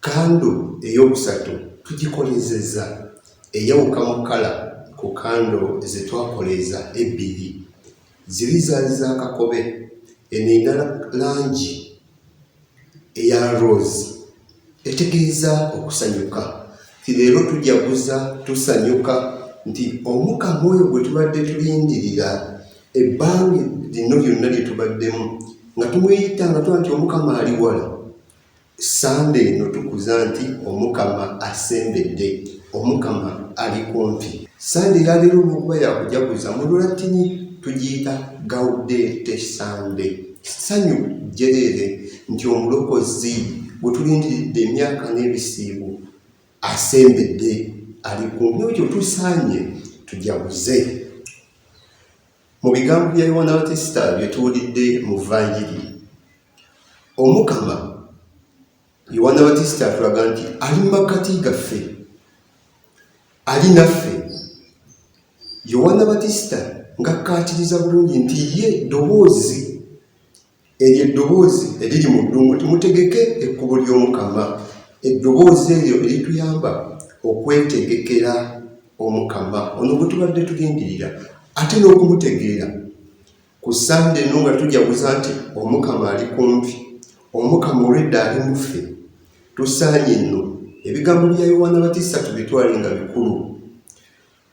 Kando ey'okusatu tugikoleezezza eyawuka mu kkala ku kando ze twakoleeza ebbiri. Ziri zaali za kakobe, eno erina langi eya rose etegeeza okusanyuka nti leero tujaguza tusanyuka nti omukama oyo gwe tubadde tulindirira ebbanga lino lyonna lye tubaddemu nga tumweyita nga tuba nti omukama ali wala Ssande eno tukuza nti Omukama asembedde, Omukama ali kumpi. Ssande eya leero olw'okuba ya kujaguza, mu Lulattini tugiyita Gaudete Sunday, Ssanyu jjereere, nti Omulokozi gwe tulindiridde emyaka n'ebisiibo asembedde, ali kumpi. N'olwekyo tusaanye tujaguze. Mu bigambo bya Yowaana Batisita bye tuwulidde mu Vanjiri, Omukama Yowaana Batisita atulaga nti ali mu makkati gaffe, ali naffe. Yowaana Batisita ng'akkaatiriza bulungi nti ye ddoboozi eryo eddoboozi eriri mu ddungu nti mutegeke ekkubo ly'Omukama, eddoboozi eryo erituyamba okwetegekera Omukama ono gwe tubadde tulindirira ate n'okumutegeera. Ku Ssande eno nga tujaguza nti Omukama ali kumpi, Omukama olwedda ali mu ffe, tusaanye nno ebigambo bya Yowaana Batista tubitwale nga bikulu,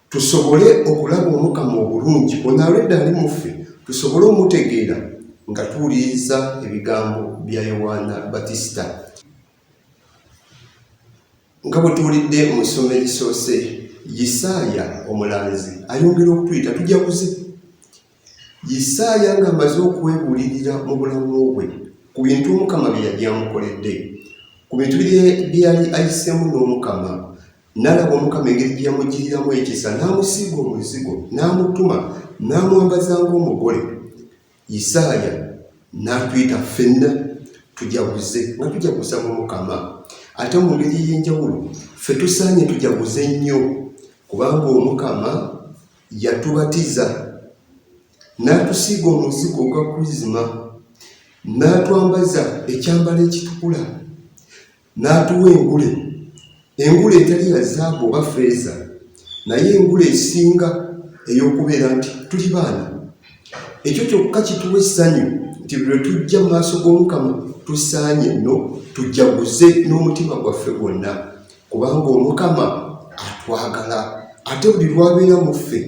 tusobole okulaba Omukama obulungi ono alwedda ali mu ffe, tusobole omutegeera nga tuwuliriza ebigambo bya Yowaana Batista. nga bwe tuwulidde mu nsonga egisoose yisaaya omulanzi ayongera okutuyita tujja kuze yisaaya ng'amaze okwebulirira mu bulamu bwe ku bintu omukama bye yali amukoledde ku bintu bye yali ayiseemu n'omukama n'alaba omukama engeri gye yamugiriramu ekisa n'amusiiga omuzigo n'amutuma n'amwambaza ng'omugole Isaaya n'atuyita ffenna tujaguze nga tujaguza mu Mukama. Ate mu ngeri ey'enjawulo ffe tusaanye tujaguze nnyo kubanga Omukama yatubatiza n'atusiiga omuzigo ogwa Krizima n'atwambaza ekyambalo ekitukula N'atuwa engule, engule etali ya zaabu oba ffeeza, naye engule esinga ey'okubeera nti tuli baana. Ekyo kyokka kituwa essanyu nti lwe tujja mu maaso g'Omukama tusaanye nno tujaguze n'omutima gwaffe gwonna, kubanga Omukama atwagala. Ate buli lw'abeera mu ffe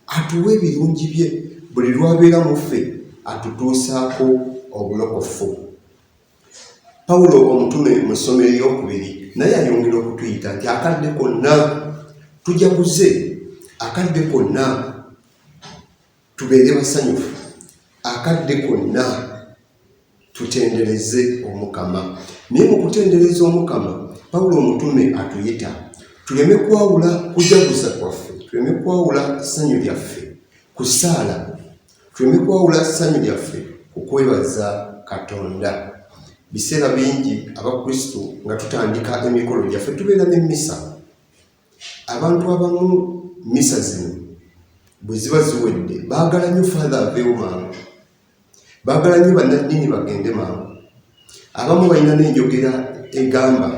atuwa ebirungi bye, buli lw'abeera mu ffe atutuusaako obulokofu. Pawulo omutume mu ssomo eryokubiri naye ayongera okutuyita nti akadde konna tujaguze, akadde konna tubeere basanyufu, akadde konna tutendereze Omukama. Naye mu kutendereza Omukama, Pawulo omutume atuyita tuleme kwawula kujaguza kwaffe, tuleme kwawula ssanyu lyaffe Ku ssaala, tuleme kwawula ssanyu lyaffe ku kwebaza Katonda. Biseera bingi Abakristu nga tutandika emikolo gyaffe tubeera ne mmisa. Abantu abamu mmisa zino bwe ziba ziwedde baagala nnyo faatha aveewo mangu, baagala nnyo bannaddiini bagende mangu. Abamu balina n'enjogera egamba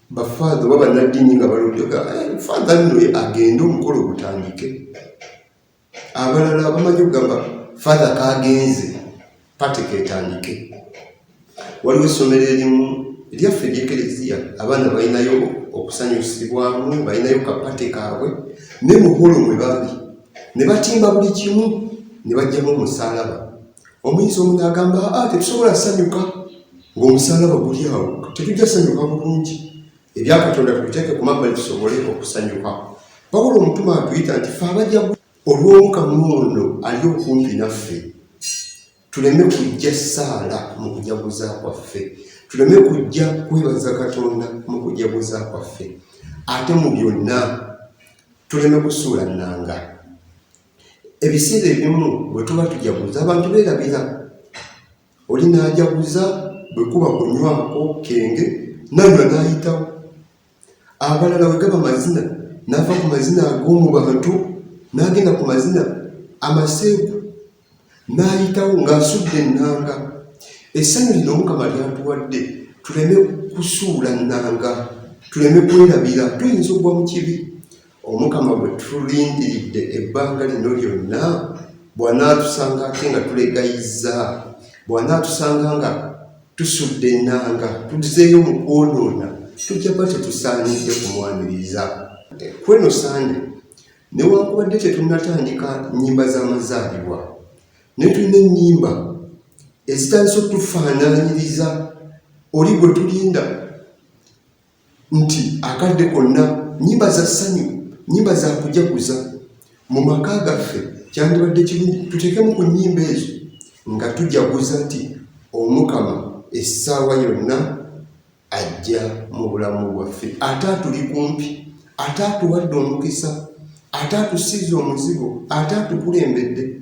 bafaadha oba bannaddiini nga baludde eh, faadha nno agende omukolo ogutandike abalala abamanyi okugamba faadha kagenze pate ketandike waliwo essomero erimu lyaffe eryekereziya abaana balinayo okusanyusibwamu balinayo kapate kaabwe ne muholo mwe baali ne batimba buli kimu ne bajjamu omusalaba omuyizi omu naagamba a ah, tetusobola sanyuka ng'omusalaba guli awo tetujja sanyuka bulungi ebyakatonda tubiteeke ku mabbali tusobole okusanyuka wabula omutuma atuyita nti fe abajja olw'omukamu ono ali okumpi naffe tuleme kujja saala mu kujaguza kwaffe tuleme kujja kwebaza katonda mu kujaguza kwaffe ate mu byonna tuleme kusuula nnanga Ebiseera ebimu bwe tuba tujaguza abantu beerabira, oli n'ajaguza bwe kuba kunywako kenge nanywa n'ayitawo. Abalala bwe gaba mazina n'ava ku mazina ag'omu bantu n'agenda ku mazina amaseegu n'ayitawo ng'asudde ennanga. Essanyu lino Mukama lyatuwadde tuleme kusuula nnanga, tuleme kwerabira tuyinza okugwa mu kibi. Omukama gwe tulindiridde ebbanga lino lyonna bw'anaatusanga ate nga tulegayizza, bw'anaatusanga nga tusudde ennanga, tuzeeyo mu kwonoona, tujja kuba tetusaanidde kumwaniriza. Kweno Sande, newankubadde tetunnatandika nnyimba z'amazaalibwa, naye tulina ennyimba ezitandise okutufaanaanyiriza oli gwe tulinda. nti akadde konna nnyimba za ssanyu nnyimba za kujaguza mu maka gaffe kyandibadde kirungi tuteekemu ku nnyimba ezo nga tujaguza nti omukama essaawa yonna ajja mu bulamu bwaffe ate atuli kumpi ate atuwadde omukisa ate atusiiza omuzigo ate atukulembedde